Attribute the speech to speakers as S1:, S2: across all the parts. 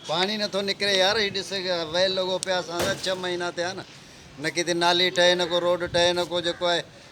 S1: پاڻي نه
S2: ٿو
S1: نڪري
S2: يار هي ڏس ويل لڳو پيو آهي اسان سان ڇهه مهينا ٿيا آهن نه ڪٿي نالي ٺهي نه ڪو روڊ ٺهي نه ڪو جيڪو آهي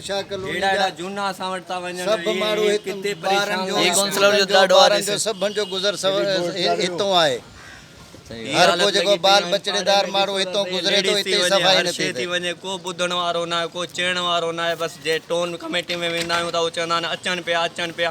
S2: ههڙا ههڙا جهونا اسان
S1: وٽ
S2: ٿا
S1: وڃن
S2: ۽ هي هي ڪتي
S3: پريشان
S2: ٿا
S3: ٿين. سڀن جو گذر
S2: سفر هتئون آهي. هر
S3: ڪو جيڪو بال
S2: بچڙي دار ماڻهو هتئون گذري ٿو، هتي ئي صفائي نه ٿي سگهي. ڪو ٻڌڻ وارو
S1: ناهي، ڪو چئڻ وارو ناهي، بس جي ٽون ڪميٽي ۾ ويندا آهيون ته اهو چوندا آهن اچن پيا اچن پيا.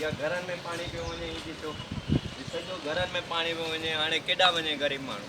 S1: يا گهرن ۾ پاڻي پيو وڃي هي ڏسو هي سڄو گهرن ۾ پاڻي پيو وڃي هاڻي ڪيڏا وڃي غريب ماڻهو